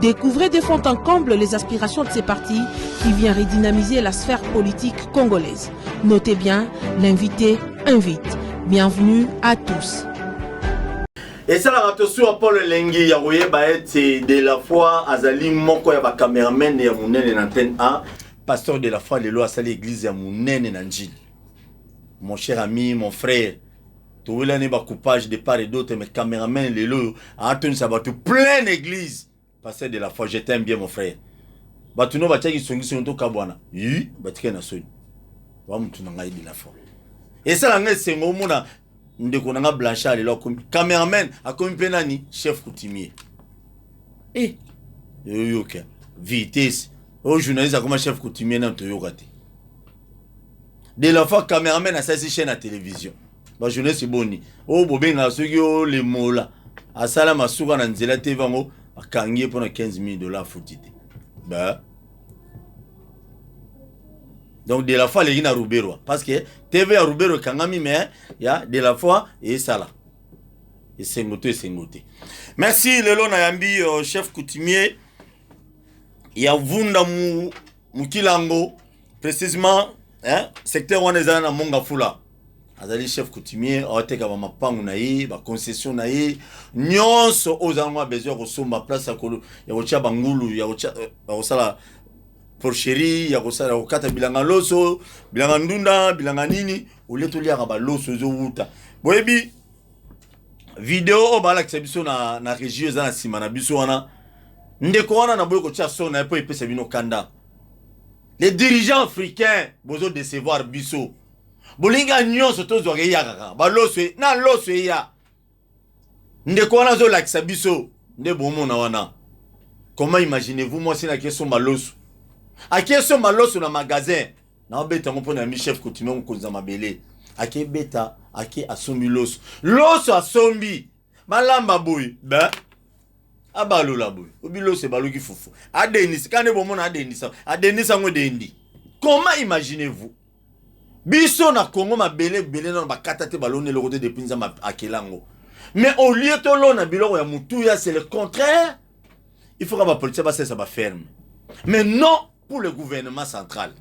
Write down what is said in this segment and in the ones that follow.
Découvrez de fond en comble les aspirations de ces partis qui vient redynamiser la sphère politique congolaise. Notez bien, l'invité invite. Bienvenue à tous. esalaka tosuwa paul elengi ya koyeba ete de la foi azali moko ya bacameraman ya monene na ntene a pasteur de la foi lelo asali eglize ya monene na njili mon cher ami mon frère towelani ba coupage de part et d'autre mais cameraman lelo oyo atonisa bato pleine église pasteur de la foi je t'aime bien mon frère bato no batiaki songisongi tokabwana yi batikali na soni wa motu na ngai de la foi esala ngai esengo omona ndeko na ngai blanchard lelo akomi cameraman akomi mpe nani chef coutumier e eh, oyoka vitesse oyo journaliste akoma chef coutumier nano toyoka te de l'enfant cameraman asalisi chaîne ya télévision bajournaliste boni oyo bobengaka soki olemola asala masuka na nzela te vango akangi ye mpo na 15 000 dollars afuti te ba donc de la foi aleki na ruberwa parce que tv ya ruberwa ekangami mais ya de la foi esala esengo to esengo te merci lelo nayambi uh, chef coutumier ya vunda mu mokila yango precisement eh, secteur wana ezala na monga fula azali chef coutumier aoteka bamapangu na ye baconcession na ye nyonso oyo ozala ngo ya besoin ya kosomba place ya kotya bangulu ya eh, kosala porcherie ya kosala ya kokata bilanga loso bilanga ndunda bilanga nini olie toliaka baloso ezowuta boyebi video oyo balakisa biso na, na regio eza na nsima na biso wana ndeko wana na boyi kotya son na ye mpo epesa bino kanda les dirigeants africains bozo decevoir biso bolinga nyonso tozwaka eya kaka baloso e, na loso eya ndeko wana azolakisa biso nde bomona wana comment imaginez-vous mwasi na ake somba loso ake somba loso na magasin na beta yango mpo na yambi chef coutumier mokonzi ya mabele ake beta ake asombi loso loso asombi balamba boye be abalola boye obi loso ebaluki fufu adendisa kaka nde bomona adendisa adendisa yango edendi comment imaginez vous biso na congo mabele ebele nano bakata te baloni eloko te depuis nzambe akela yango mais au lieu tolona biloko ya motuya c'est le contraire il faut ka bapolitien basalisa baferme mais non Pour le gouvernement central,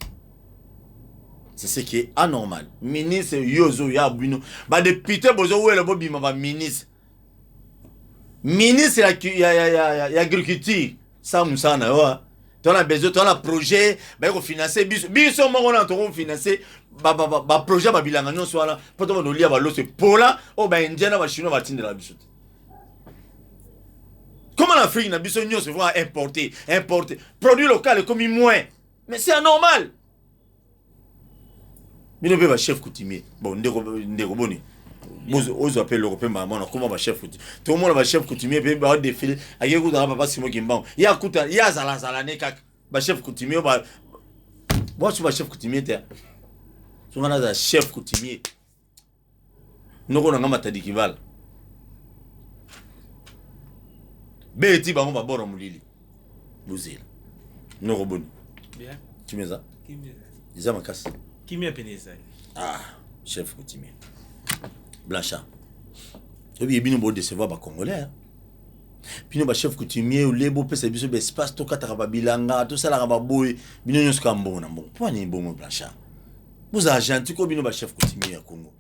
c'est ce qui est anormal. Ministre yozo ya bino, ba député bozo wela bo bima ba ministre. Ministre ya ya ya ya, ya agriculture, ça musana yo. Hein. Toi la besoin, toi la projet, ba ko financer biso. Biso moko na to ko financer ba ba ba, ba projet ba bilanga nyo swala, poto ba nolia ba losse pola, o ba indiana ba chinois ba tindela biso. Comment l'Afrique n'a besoin de se voir importer, importer. Produit local est comme moins. Mais c'est anormal. bino mpe bachef coutumier bon ndeko ndeko boni ozwa mpe eloko mpe mbala mwana koma bachef coutumier tomona bachef coutumier mpe badefile akei kutaka papa simo kimbango ye akuta ye azalazala ne kaka bachef coutumier bwasu bachef coutumier te songa nazala chef coutumier noko na nga matadi kibala beti bango babora molili bozela noko boni kimia eza eza makasi kimia pene ezali ah chef kotimia blanchard oyebi ye bino bodecevoir bacongolais bino bachef coutumier olie bopesa biso baespace tokataka babilanga tosalaka baboye bino nyonso kaka mbongo na mbongo mpo nini bongo blanchard bozala gentil ko bino ba chef coutumier ya congo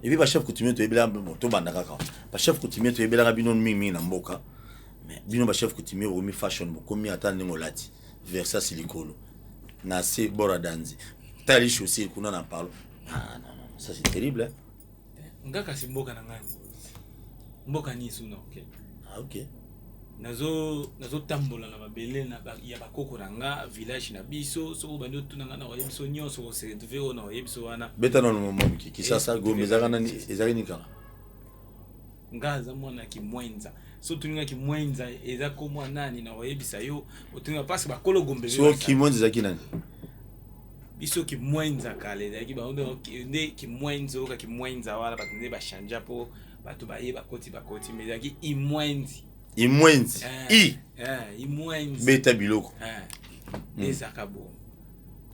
epuis ba chef coutumier toyebelaka bino tobanda kaka ba chef coutumier toyebelaka bino mingi mingi na mboka mais bino ba chef coutumier bokomi fashion bokomi ata ndenge olati versasi likolo na se bora danzi tali chaussure kuna na palo ah, non, non, ça c'est terrible hein? nga kasi mboka na ngai yango mboka nini soki na okende ah, okay. nazotambola na mabele ya bakoko na nga village na biso soki obandi otuna nga na oyebi biso nyonso oserve oyo na oyebi biso wana beta nano momoki kisasa eh, gombe ezalaki nini kala nga aza mwana kimwenza so otuni nga kimwenza eza komwa nani na oyebisa yo otuni nga parce bakolo gombe so kimwenza ezalaki nani biso kimwenza kala ezalaki bango nde kimwenza oyoka kimwenza wana bato nde bachangea mpo bato baye bakoti bakoti ma ezalaki imwenzi imwenzi eh, i eh, imwenzi beta biloko eh, hmm. ezaka bo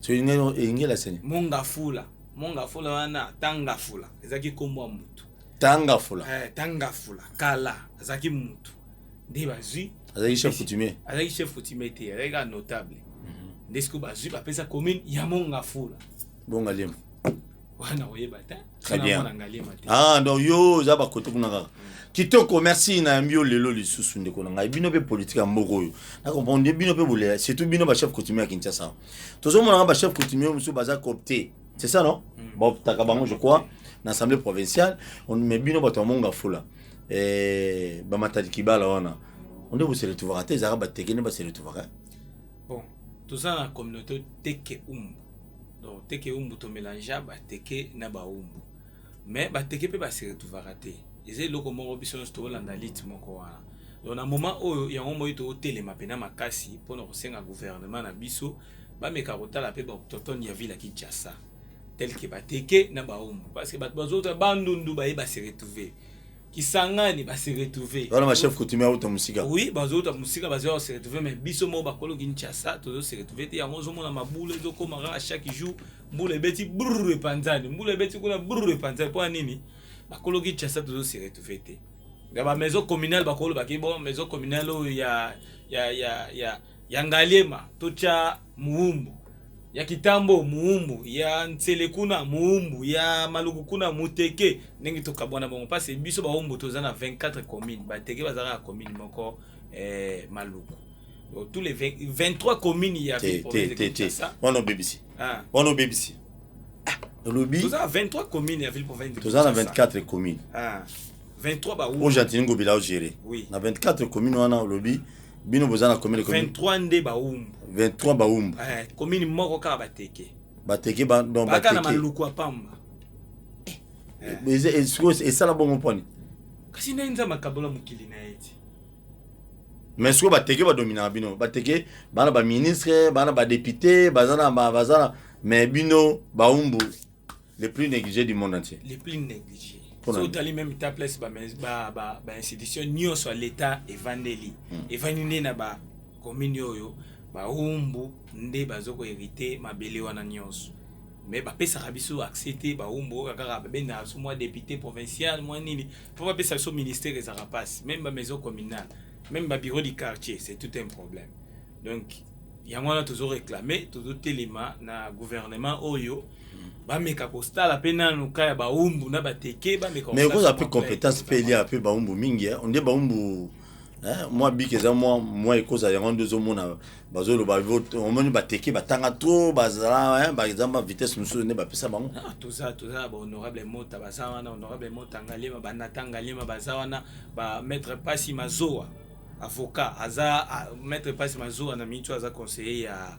so elingi elasani mongafula mongafula wana tangafula ezalaki nkombo ya motu tangafula eh, tangafula kala azalaki mutu nde bazwi azalaki chef coutumier azalaki chef coutumier te azalaki kaka notable mhm. nde sikoyo bazwi bapesa commune ya mongafula bongaliema wana oyeba te très bien ah donc yo oza bakote kuna kaka kitoko merci nayambi yo lelo lisusu ndeko na ngai bino mpe politike ya mboka oyo na comprendre bino mpe bolela surtout bino bachef coutumier ya kinshasa tozomonaka bachef coutumier mosusu baza copte c'est ça non mm. baoptaka bango je crois na assemblée provinciale mais bino bato ya monga fula eh, bamatadi kibala wana onde bose retrouvaka te ezalaka bateke nde base retrouvaka eh? bon toza na communauté teke umbu donc teke umbu tomelangea bateke na baumbu mais bateke mpe base retrouvaka te eza eloko moko biso nyonso tokolanda lite moko wana donc na moment oyo yango moi tokotelema mpena makasi mpona kosenga gouvernement na biso Bameka kotala pe ba autochtones ya ville ya Kinshasa tel que ba Teke na ba Humbu parce que batu bazota Bandundu baye ba se retrouver Kisangani ba se retrouver Wana ba chef coutumier auta musika. Oui, bazota musika bazo se retrouver mais biso mo bakolo Kinshasa tozo se retrouver te yango ozo mona mabula ezo koma kaka chaque jour mbula ebeti brrr epanzani mbula ebeti kuna brrr epanzani mpo nini bakolo Kinshasa tozo se retrouver te ya ba maison communale bakolo baki bon maison communale oyo ya ya ya ya Ya Ngaliema totya moumbu, ya Kitambo moumbu, ya Nsele kuna moumbu, ya Maluku kuna muteke, ndenge tokabwana bongo parce que biso baumbu toza na 24 communes, bateke bazalaka na commune moko eh, Maluku Donc, tous les 20 23 communes ya te ville te province de te te Kinshasa wana obebisi ah, wana obebisi Ah, olobi toza na 23 communes ya ville province de toza na Kinshasa. 24 commune ah. 23 ba oyo Gentini Ngobila o gérer oui. na 24 commune wana olobi bino boza na commune 23 nde ba umbu 23 ba umbu eh, commune moko kaka bateke bateke ba donc bateke baka na maluku apamba eh. eh. sikoyo esala bongo mponi kasi nde nzambe akabola mokili na ye ti mais sikoyo bateke badominaka bino bateke bana baministre bana badepute baza na baza na mais bino baumbu le plus négligé du monde entier le plus négligé so otali meme ta place bainstitution ba, ba, ba nyonso ya leta evandeli hmm. evandi nde na bakomini oyo baumbu nde bazo koherite mabele wana nyonso mais bapesaka biso accès te baumbu oyo kaka babendaka biso mwa député provincial mwa nini mpo bapesa biso ministère ezalaka mpasi meme bamaison communale meme babureau du quartier c'est tout un problème donc yango wana tozo réclame tozotelema na gouvernement oyo bameka kosala mpe nanu ka ya baumbu na bateke bameka mais ekozala mpe compétence mpe elia mpe baumbu mingi eh. onde baumbu eh, mwa biki eza mwa mwa ekozala yango nde ozomona bazoloba omoni bateke batanga tro bazala eh, baza ba vitesse mosusu nde bapesa bango ah, toza toza na bahonorable mota baza wana honorable mota ngalema banata ngalema baza wana bamaître pasi mazoa avocat aza ah, maître pasi mazoa na miniti oyo aza conseiller ya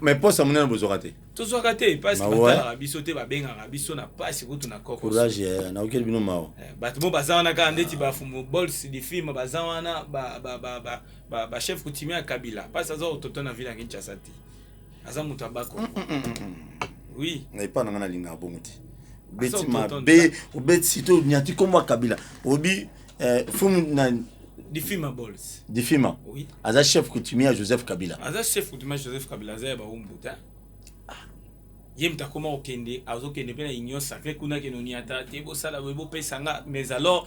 me posa monene bozwaka te tozwaka te pasi batalaka biso te babengaka biso na pasi kutu na courage eh, naokeli bino mawa eh, bato mo baza wana kaka ndeti bafumu bols difilme baza wana bachef coutumier ya kabila pasi aza kototo na ville ya kinshasa te aza moto ya bako mm, mm, mm, oui na epa na ngai nalingaka bongo te obeti mabe obeti sito onyati nkombo ya kabila obi eh, fumu nani difima bols difima oui. aza chef coutumier ya joseph kabila aza chef coutumier ya joseph kabila aza ya baumbuta ah. ye moto akoma kokende azokende mpe na union sacré kuna kenoni ata te bosala boye bopesa nga mais alors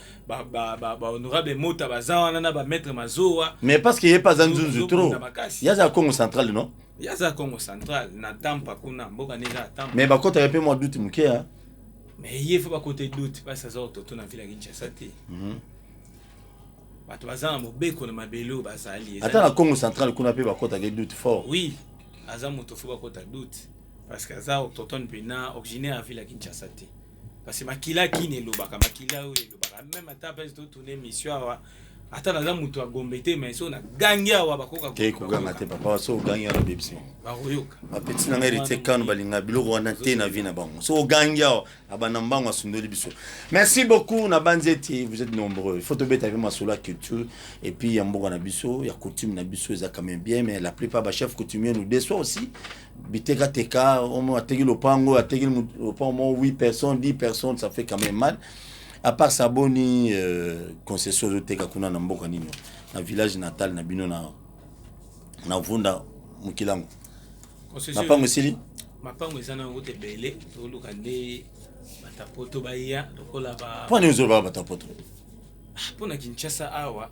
bahonorable mota baza wana na bamaître mazowa mais parce que ye mpe aza nzunzu trop ye aza ya congo central non ye aza ya congo central na tampa kuna mboka nde eza ya tampa mais bakotaka mpe mwa duti moke mais ye faut bakota doute mpasi aza ototo na ville ya kinshasa te mhm. bato baza na mobeko na mabele oyo bazali ata na congo central kuna mpe bakotaka edoute fort oui aza moto fo bakota doute parce que aza autochtone mpena originaire ya ville ya kinshasa te parce que makila kini elobaka makila oyo elobaka meme ata mpesi totuna émission awa ata naza moto ya gombe te mais so nagangi awa bakokakoganga te papa so ogangi awa babebisi bakoyoka bapeti na ngai retie kano balinga biloko wana te na vie na bango so ogangi awa abanda mbango asundoli biso merci beaucoup na banzi ete vous êtes nombreux faut tobeta mpe masolo ya culture et puis ya mboka na biso ya coutume na biso eza quand même bien mais la plupart bachef coutumier nous déçoit aussi bitekateka omo ateki lopango ateki lopango moko 8 personnes 10 personnes ça fait quand même mal A part ça boni euh, concession ezoteka kuna na mboka nini na village natal na bino na na vunda mukilango mapango esili mapango eza nango te bele toluka nde batapoto baya lokola ba mpo nini ozolobaka batapoto ah, mpo na kinshasa awa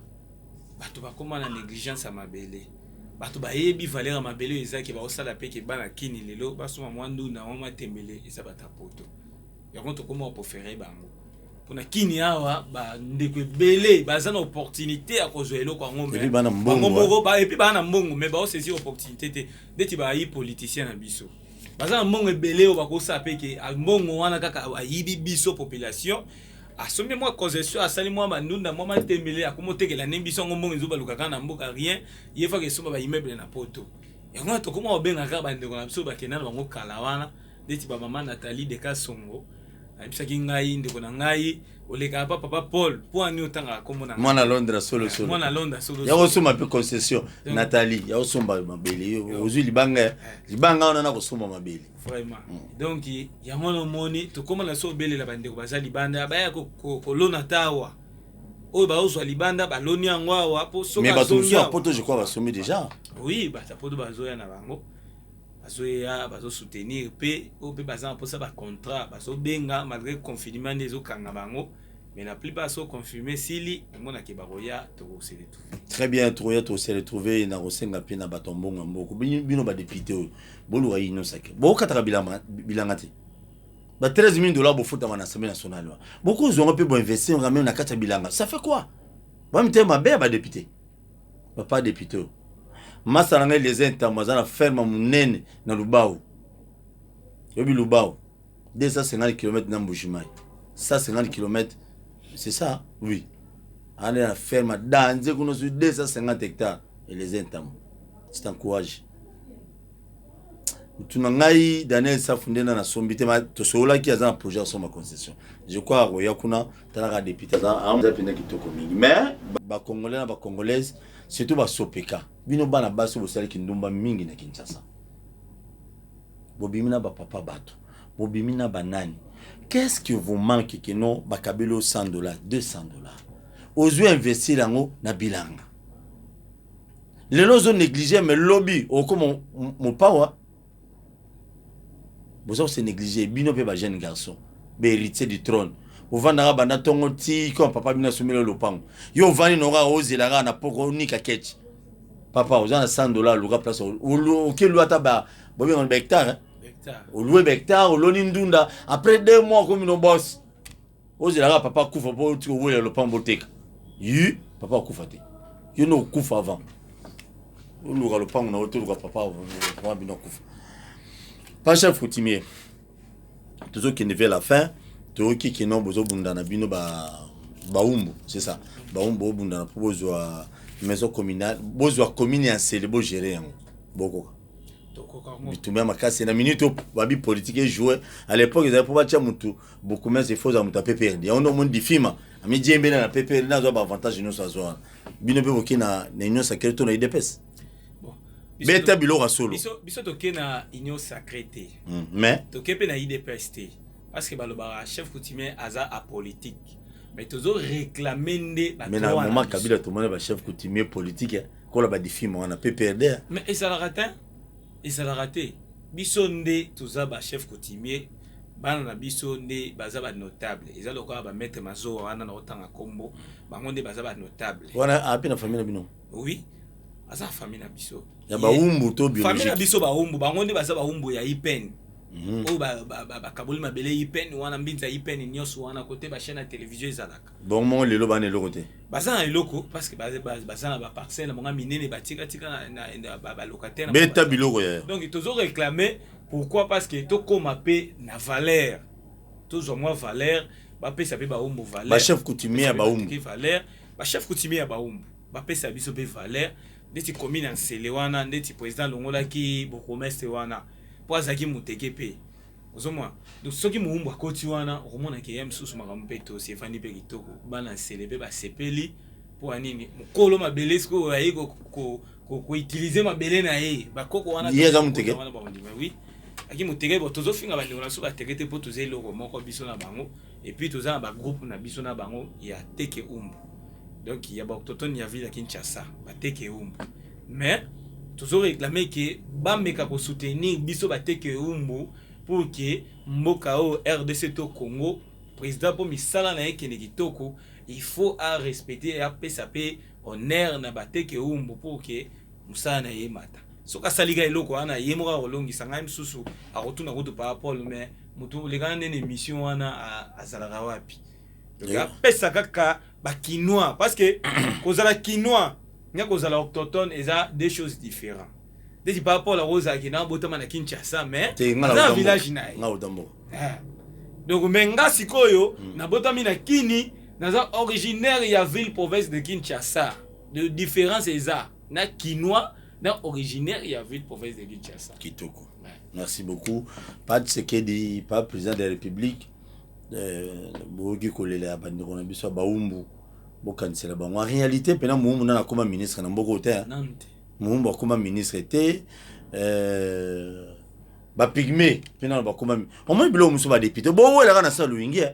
bato bakoma na négligence ya mabele bato bayebi valeur ya mabele oyo ezaki baosala mpe ke bana kini lelo basoma mwa ndunda mwa matembele eza batapoto yango tokoma kopofere bango mpona kini awa bandeko ebele baza na opportunité ya kozwa eloko yango bango moko epuis baa na mbongo mai baosaisir opportunité te ndeti bayi politicien na biso baza na mbongo ebele oyo bakosala mpe ke mbongo wana kaka ayibi biso population asombi mwa concession asali mwa bandunda mwa matembele akomotekela nde biso yango mbongo ezobalukaka na mboka rien ye faka esomba baimmeuble na poto yango wana tokoma kobenga kaka bandeko na biso bakenda na bango kala wana neti ba mama Nathalie de Kasongo ayebisaki ngai ndeko na ngai olekaka pa papa Paul mpo ani otangaka kombo na mwana Londres solo solo mwana Londres solo ya kosomba pe concession Nathalie ya kosomba mabele ozui libanga eh. libanga wana na kosomba mabele vraiment mm. donc yango na omoni tokoma na so obelela bandeko baza libanda baya kolona tawa oyo baozwa libanda baloni yango awa mpo soki mais bato mosusu ya poto je crois basombi déjà oui bato ya poto bazoya na bango bazoya bazo soutenir pe oyo pe baza na posa ba contrat bazo benga malgre confinement nde ezo kanga bango mais la plupart so confirme esili omona ke bakoya toko se retrouver très bien tokoya to se retrouver na kosenga pe na bato ya mbongo ya mboko bino ba député oyo boluka inosake bokataka bilama bilanga te ba 13 000 dollars bofutama na assemblée nationale wana bokozwa yango mpe boinvestir yango meme na kati ya bilanga ça fait quoi bamitema mabe ya badepute Papa depute oyo masta na ngai Eliezer Ntambwe aza na ferme ya munene na Lubao. Oyebi Lubao 250 km na Mbujimayi. 150 km c'est ça oui. Ana na ferme ya danze kuna sur 250 hectares Eliezer Ntambwe. C'est un courage. Mutu na ngai Daniel Safu nde na nasombi te ma tosololaki aza na projet ya somba concession. Je crois akoya kuna tala ka depute aza aza mpenza kitoko mingi mais bacongolais na bacongolaise surtout basopeka bino bana basi bosali kindumba mingi na kinshasa bobimi na bapapa bato bobimi na banani qu'est-ce que vous manque que non bakabeli o 100 dollars 200 dollars ozwi investir yango na bilanga lelo ozo néglige mais lobi okoma mopawa boza kose neglige bino mpe ba jeune garçon ba héritier du trône ovandaka banda ntongo ti koma papa bino asomeli yo lopango yo ovandi noko kaka ozela kaka na poko onika keche papa oza na 100 dollar oluka place oke lua ata ba bobengana ba hectare olue ba hectare oloni ndunda après deux mois okomi no boss ozela kaka papa akufa mpo oti kowelela lopango boteka yi papa akufa te yo nde okufa avant oluka lopango na yo toluka papa avant bino akufa pa chef coutumier tozokende vers la fin toyoki kino bozobunda na bino ba baumbu c'est ça baumbu bobundana mpo bozwa maison communale bozwa commune ya nsele bogere yango bokoka bitumba ya makasi na minute babi politique ejoue à l'époque ezali mpo batya motu bourgmestre il faut ozala moto ya pprd yango nde omoni difima amijembela na pprd na azwa baavantage nyonso azwa wana bino mpe boke na union sacré to na idps beta biloko ya solo biso toke na union sacré te hmm, mais toke mpe na idps te parce que balobaka chef coutumier aza apolitique mais tozo réclamer nde mais na moment kabila tomoni ba chef coutumier politique eh, kola ba difima wana pprd eh. mais ezalaka te Ezalaka te biso nde toza ba chef coutumier bana na biso nde baza ba notable eza lokola ba maitre mazowa wana na otanga kombo bango nde baza ba notable wana api na famille na bino oui aza famille na biso ya ba umbu to biologique famille na biso ba umbu bango nde baza ba umbu ya ipeni Mhm. oyo bakaboli mabele ipene wana mbinza ipene nyonso wana kote bachaine ya televizio ezalaka Bongo mongo lelo bana eloko te. Baza na eloko parce que baza na ba parcelles monga minene ba tika tika na na ba locataires. Beta biloko ya. Donc tozo réclamer pourquoi parce que to koma pe na valeur. Tozwa mwa valeur ba pesa pe ba umbu valeur. Ba chef coutumier ya ba umbu. Ki valeur ba chef coutumier ya ba umbu ba pesa biso pe valeur ndeti commune ya Nsele wana ndeti president alongolaki bourgmestre wana po azalaki muteke pe. ozomona donc soki mowumbu akoti wana okomona ke ya misusu makambo mpe tosi efandi mpe kitoko bana nsele mpe basepeli mpo ya nini mokolo mabele sikoyo aye koutilize mabele na ye bakoko wana ye aza moteke wana bakondima wi aki moteke bo tozofinga bandeko na biso bateke te mpo toza eloko moko biso na bango Et puis toza na ba groupe na biso na bango ya teke umbu. Donc il y a ba autochtones ya ville ya Kinshasa, ba teke umbu. Mais tozo réclamer que ba meka ko soutenir biso ba teke umbu pour que mboka o RDC to Congo président po misala na ye kende kitoko, il faut a respecter a pesa pe honneur na ba teke umbu pour que mosala na ye emata soki asali ka eloko wana ye moko akolongisa ngai mosusu akotuna kutu paa paul mais motu olekana nde na émission wana azalaka wapi eh. apesa kaka bakinois parce que kozala kinois na kozala octotone eza deux choses différents ndeti paa paul akozalaki na botama na kinshasa mais aza village na ye eh. donc me nga sikoyo hmm. nabotami na kini naza originaire ya ville province de kinshasa de difference eza na kinois na originaire ya ville province de Kinshasa. Kitoko. Ouais. Merci beaucoup. Pas de Sekedi, pas président de la République. Euh, boyoki kolela ya bandeko na biso ya baumbu bokanisela bango en réalité mpena moumbu nana akoma ministre na mboka ote moumbu akoma ministre te euh, bapigme mpena bakoma omoni biloko mosusu badepute bowelaka na saloingi eh.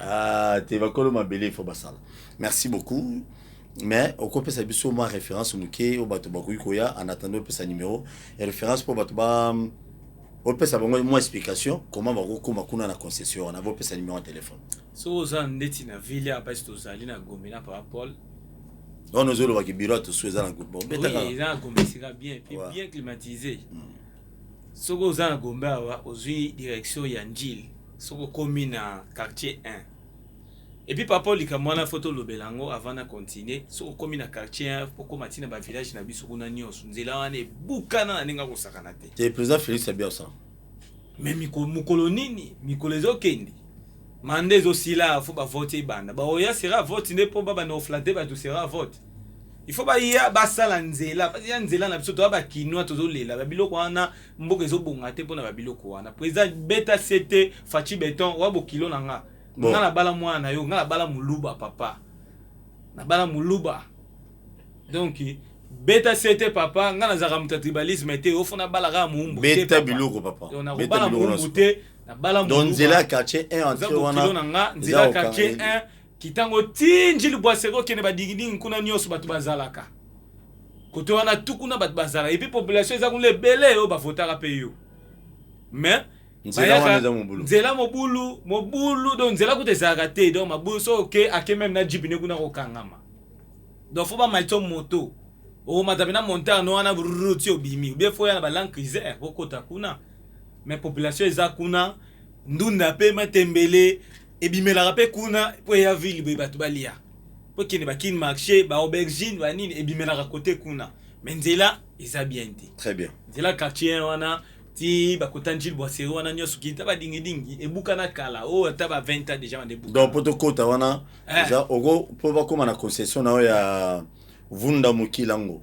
Ah, te bakolo mabele ifo basala merci beaucoup mais okopesa biso mwa référence moke oyo bato bakoki koya en attendant opesa numéro ya référence mpo bato ba opesa bango mwa explication comment bakokoma kuna na concession wana bopesa numéro ya telefone soki oza ndeti na ville ya mpasi tozali na gombe na papa paul wana ozolobaki biro ya tosu eza na groupe Oui, eza na gombe esika bien puis Ouais. bien climatisé Soki oza na Gombe awa ozui direction ya Njili soki okomi na quartier 1. Et puis papa likambo wana faut tolobela yango avant na continuer. Soki okomi na quartier 1 okoma ti na ba village na biso kuna nyonso nzela wana ebukana na ndenge ya kosakana te. Te president Felix abia ça. Mais mikolo, mukolo nini? Mikolo ezokende. Manda ezosila faut ba vote ebanda. Baoya sera vote nde po babanda koflatter bato sera vote. il faut baya basala nzela ya nzela na biso toya bakinois tozolela babiloko wana mboka ezobonga te mpona babiloko wana président beta sete faci beton oya bokilo na nga bon. nga nabala mwana na yo nga nabala moluba papa nabala moluba donc beta sete papa nga nazalaka moto ya tribalisme te ofo nabala kaka moumbu beta biloko papa nakobala moumbu te nabala moluba nzela quartier 1 wana nzela quartier 1 Kitango ti ndjili bwaseke okende ba dingidingi kuna nioso batu bazalaka kote wana tu kuna batu bazalaka epuis population eza kuna ebele oyo bavotaka pe yo mais nzela wana eza mobulu nzela mobulu mobulu donc nzela kuta ezalaka te donc mabulu so oke ake meme na jipi ne kuna kokangama donc fo bamaitso moto okomata pena montagne wana brrr ti obimi obie fo ya na balangue crisere okota kuna mais population eza kuna ndunda pe matembele ebimelaka mpe kuna mpo eya ville boye bato balia mpo kende bakini marché baaubergine banini ebimelaka kote kuna me nzela eza bien te très bien nzela quartier wana ti bakota njili bwaseri wana nyonso kita badingidingi ebukana kala oyo oh, ata ba 20 ans déjà bande ebukana donc mpo tokota wana eh. eza oko mpo bakóma na concession na yo ya vunda mokilango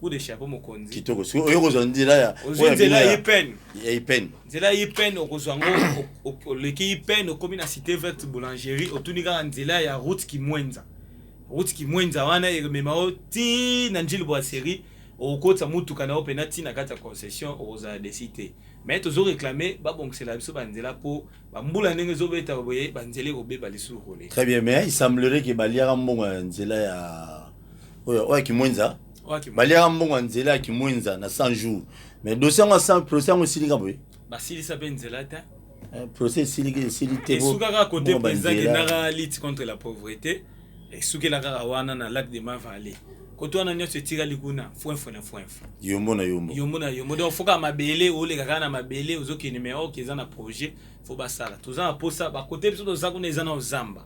coup de chapeau mokonzi kitoko sikoyo oyo kozwa nzela ya ozwi nzela ya ipene ya ipene nzela ya ipene okozwa yango oleki ipene okomi na cité verte boulangerie otuni kaka nzela ya route kimwenza route kimwenza wana emema yo ti na njili brasserie okokotisa motuka na yo mpena ti na kati ya concession okozala desi te mais tozo réclame babongisela biso banzela mpo bambula ndenge ezobeta boye banzela ekobeba lisusu koleka très bien mais il semblerait ke baliaka mbongo ya nzela ya oyo oyo kimwenza baliaka mbongo ya nzela ya kimwenza na 100 jours mais dossier yango ya procès yango esilika boye basilisa mpe nzela te eh, procès esiliki esili te esukaka kote président kendaka lutte contre la pauvreté esukela kaka wana na lac de mavale koto wana nyonso etikali kuna fwenfo na fwenfo yombo na yombo yombo na yombo donc foka mabele oleka kaka na mabele ozokende me oke eza na projet fo basala toza na mposa bakote biso toza kuna eza na ozamba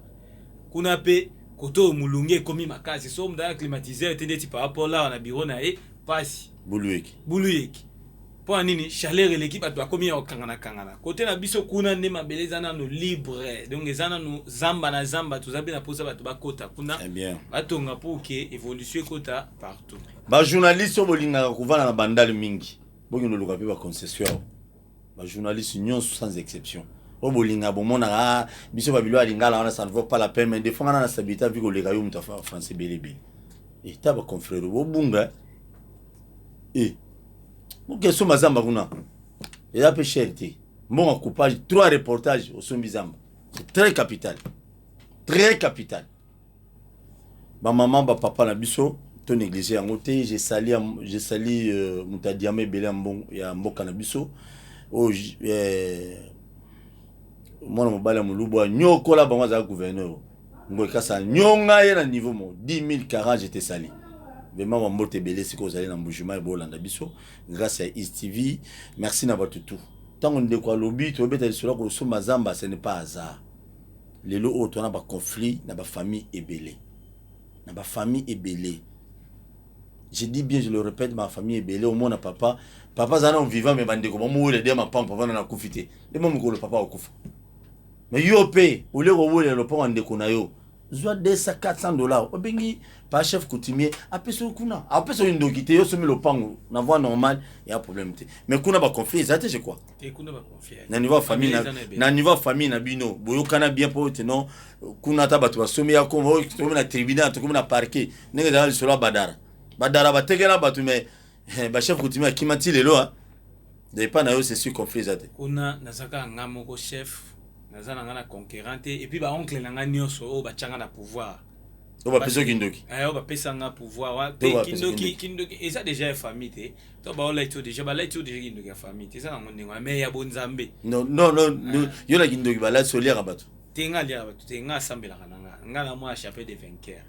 Kuna pe kote oyo mulunge ekomi makasi soki mutu aya climatiseur te ndeti papa Paul awa na bureau na ye pasi. Buluyeke. Buluyeke pona nini chaleur eleki batu bakomi ya kokangana kangana kote na biso kuna nde mabele eza nanu libre donc eza nanu zamba na zamba toza pe na posa batu bakota kuna batonga pour que evolution ekota partout. Ba journaliste oyo bolingaka kovanda na bandal mingi bokende koluka pe ba concession. ba journalistes nyonso sans exception oyo oh, bolinga bomonaka ah, biso babilo ya lingala wana ça ne vaut pas la peine mais defo nga na stabilité avi koleka yo moto ya français belebele eta eh, baconfrere bobunga e eh, boke somba zamba kuna eza mpe cher te mbongo coupage trois reportage osombi zamba c'est très capital très capital Ba maman ba papa na biso to negliger yango te je sali je sali euh, moto ya diama ebele ya mboka na biso oyo oh, eh, mwana mobali ya molubu anyokola bango azalaki gouverneur ngoyi kasa anyonga ye na niveau mo 10000 40 je te sali vraiment bambote ebele sikoyo ozali na mbujima ebolanda biso grâce ya east tv merci na bato tout ntango ndeko alobi tobeta lisolo ya kosomba zamba ce n'est pas hasard Lelo oyo toza na ba conflits na ba familles ebele, na ba familles ebele, je dis bien, je le repete, ba familles ebele, omona papa, papa aza nanu vivant mais ba ndeko ba muwela de mapangu, papa nanu akufi te, yo moko mukolo papa akokufa, mais yo pe au lieu kowelela lopango ya ndeko na yo, zua 200, 400 dollars, obengi papa chef coutumier apesa yo kuna, apesa yo ndoki te, yo osombi lopangu na voie normale, y'a problème te, mais kuna ba conflits eza te je crois. na niveau ya famille na niveau ya famille na bino boyokana bien mpo ete non kuna ata bato basomi ya kongo oh, tokomi na tribunal tokomi na parquet ndenge ezala lisolo ya badara badara batekela bato mais eh, bachef coutumier akima ti lelo ah. de epai na yo c'est sur conflit eza te kuna nazaka nga moko chef naza na nga na conquérant te epuis baoncle na nga nyonso oyo batyanga na pouvoir oyo bapesa kindoki eh, oyo bapesa nga pouvoir te kindoki kindoki eza déjà ya famille te to baolaki to deja balaki to deja kindoki ya famille te eza nango ndenge wana mai ya bonzambe ah. yo na kindoki balati oliaka bato te nga aliaka bato te nga asambelaka na nga nga na mwa chapel de vainqueur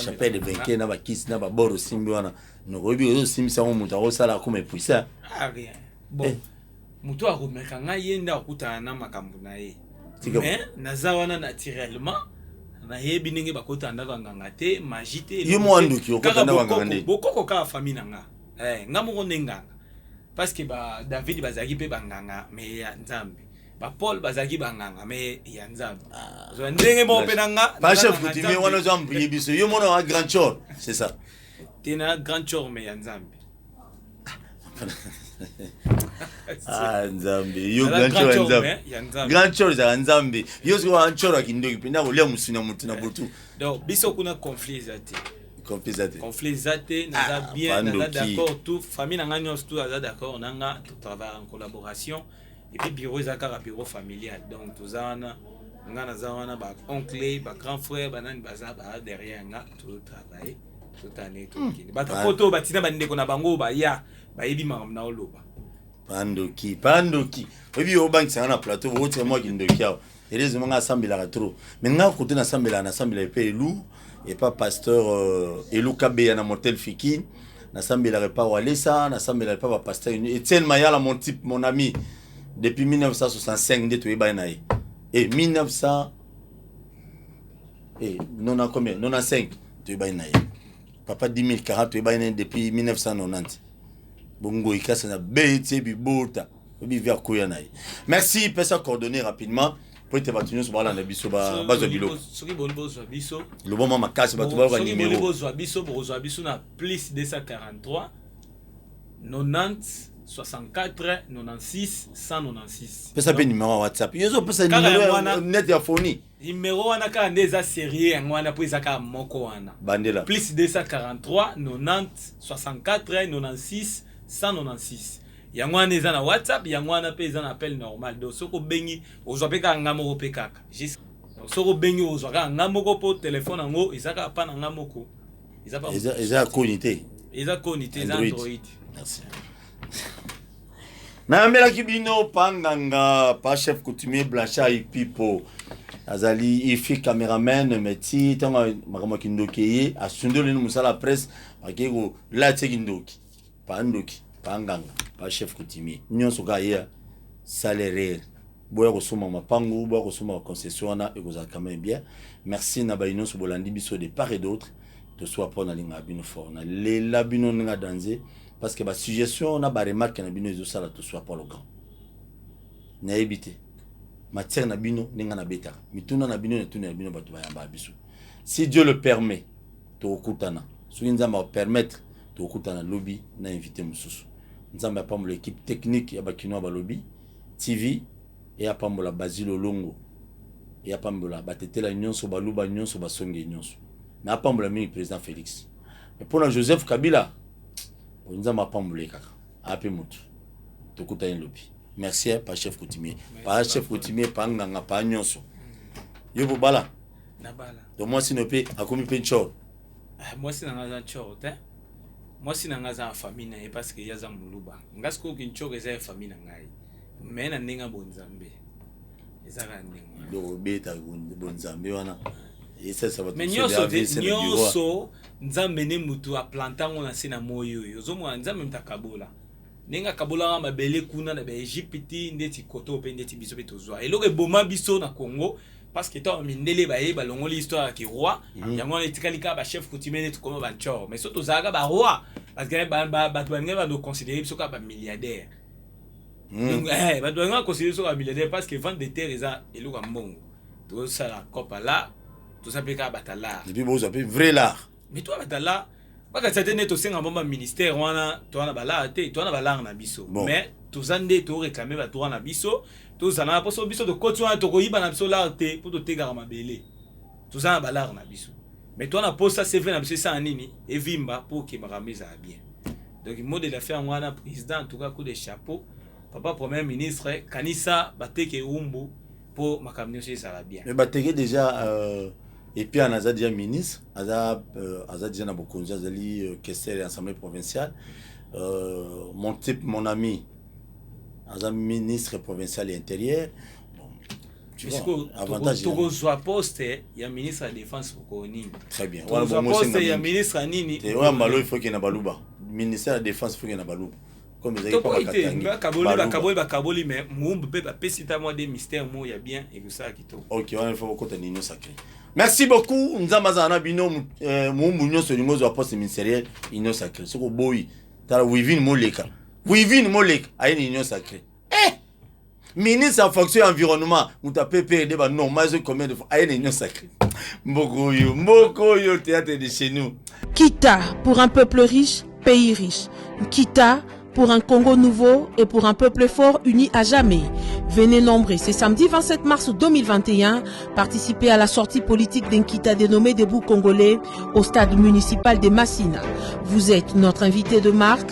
chapel de vainqueur na bakisi na babor osimbi wana nokoyebi oyo osimbisa yango moto akosala akoma epuisa ah, eh. Moto oyo akomeka ngai ye nde akokutana na makambo na ye. Mais naza wana naturellement nayebi ndenge bakota ndako ya nganga te magie te yo mwa ndoki okota ndako ya nganga nde bokoko kaka famille na nga eh nga moko nde nganga parce que ba David bazalaki pe banganga mais ya Nzambe ba Paul bazalaki banganga mais ya Nzambe ah. zo ndenge moko pe na nga ba chef coutumier wana zo ambriye biso yo mona wa grand chor c'est ça tena grand chor mais ya Nzambe Ah, nzambe yo grand chor ya nzambe eh, grand chor ezalaka nzambe yo soki wana chor ya kindoki mpe nako lia mosuni ya motu na botu donc biso kuna conflit eza te conflit eza te conflit eza te naza ah, bien naza d'accord tout famille na ngai nyonso tout aza d'accord na nga to travaille en collaboration et puis bureau eza kaka bureau familial donc toza wana nga naza wana ba oncle ba grand frère banani baza ba derrière nga to travaille hmm. bato poto oyo batina bandeko na bango oyo baya bayebi makambo na oloba pandoki pandoki oyebi yo obangisa nga na plateau okotika mwa kindoki awa elezi manga asambelaka trop me nga kote nasambelaka nasambelaka epe elu epa pasteur euh, elu kabeya na motel fiki nasambelaka epa walesa nasambelaka epa bapasteur etienne mayala mon type mon ami depuis 1965 nde toyebani na ye e 1900 Eh, nona combien nona 5 toyebani na ye papa 10 040 toyebani na ye depuis 1990 bongoyi kasi na beti bibota obivi akoya na ye merci pesa coordonné rapidement mpo ete bato nyonso balanda biso ba- bazwa biloko soki boni bozwa biso loboma makasi bato bayoka soki boni nimero bozwa biso bokozwa biso na plus 243 90 64 96 196 pesa mpe nimero ya whatsapp yo ezopesa Kaka nimero yango ya wana. net ya foni Numero wana kaka nde eza serieux yango wana po eza kaka moko wana. Bandela. Plus 243 90 64 96 196 yango wana eza na WhatsApp yango wana pe eza na appel normal donc soki obengi ozwa pe kaka nga moko pe kaka juste soki obengi ozwa kaka nga moko po telephone yango eza kaka pa na nga moko eza pa eza eza koni te eza koni te eza Android. Android. Merci. nayambelaki bino pa nganga pa chef coutumier blanchard ipipo azali ifi cameraman me ti ntango makambo ya kindoki eye asundoleli mosala ya presse akei kolatie kindoki pa ndoki pa nganga pa chef coutumier nyonso kaka ye salerere boya kosomba mapangu boya kosomba baconcession wana ekozala quand même bien merci na bayi nyonso bolandi biso de part et d'autre toswa mpo nalingaka bino fort nalela bino ndenge danze parce que ba suggestion na ba remarque na bino ezosala to soit polo grand nayebi te matière na bino ndenge nabetaka mituna na bino netuna ya bino bato bayambaka biso si dieu le permet tokokutana soki nzambe akopermettre tokokutana lobi na invité mosusu nzambe apambola équipe technique ya bakinois balobi tv e apambola basile olongo e apambola batetela nyonso baluba nyonso basonge nyonso na apambola mingi président félix mais mpo na joseph kabila oyo nzambe apambole kaka ape motu tokutani lobi merci eh, pa chef coutumier pa chef coutumier pa nganga pa nyonso yo bobala to mwasi no mpe akomi mpe ncor ah, mwasi na ngai aza ncor te mwasi na ngai aza na famille na ye parce que ye aza moluba ngai sikoyo kincor eza ya famille na ngai mais na ndenge ya bonzambe eza kaka ndenge wana donc obeta bonzambe wana esalisa bato mais mosusu nyonso ya te AVC na bureau. nyonso nzambe nde motu aplanta yango na se na moi oyo ozomona nzambe moto akabola ndenge akabolaka mabele kuna na baegypte ndeti koto mpe ndeti biso mpe tozwa eloko eboma biso na congo parce que ntango mindele baye balongoli histoire ya kiroi Mhm. yango wana etikali kaka bachef coutumier neti koma bancor mais so tozalaka baroi bato balingaki bandoconsidere biso kaka bamilliardaire Hmm. Donc, eh, bato balingaka koseli soki bamilliardaire parce que vente de terre eza eloko ya mbongo tozosala copa la toza mpe kaka batalar epuis bozwa mpe vrai lar mais toa batalar bakatisa te nde tosenga mwa baministère wana toa na balar te toa na balar na biso Bon. mais toza nde toreklame batoa na biso tozala na mposo biso tokoti wana tokoyiba na biso lar te mpo totekaka mabele toza na balare na biso me toa na posa cv na biso esala nini evimba mpo okebaka yango ezala bien donc mot de la fin yango wana président tuka coup de chapeau papa premier ministre kanisa bateke eumbu mpo makambo nyonso ezala bien me bateke déjà euh... epiana aza déjà ministre aza, euh, aza déjà na bokonzi azali euh, kester ya assemblée provinciale euh, mon type mon ami aza ministre provincial ya intérieur tokozwa poste ya ministre ya défense mokolo nini tokozwa poste ya ministre ya nini oyo ya mbalo ifoke na baluba ministère ya défense ifoke na baluba bakaboli bakaboli me moumbu mpe bapesi ta mwa de mystère mo ya bien ekosala kitoko ok wana ifo kokota nino sacré merci beaucoup nzambe azala na bino euh, moumbu nyonso olingi ozwa poste ministériel union sacré soki oboyi tala wivine moleka wivine moleka aye na union sacré ministre ya fonction ya environnement moto ya ppr nde banormal ezoki combien de fois aye na union sacré mboka oyo mboka oyo théâtre de chez nous kita pour un peuple riche pays riche kita pour un Congo nouveau et pour un peuple fort uni à jamais. Venez nombreux ce samedi 27 mars 2021 participer à la sortie politique d'un Kita dénommé Debout Congolais au stade municipal des Massina. Vous êtes notre invité de marque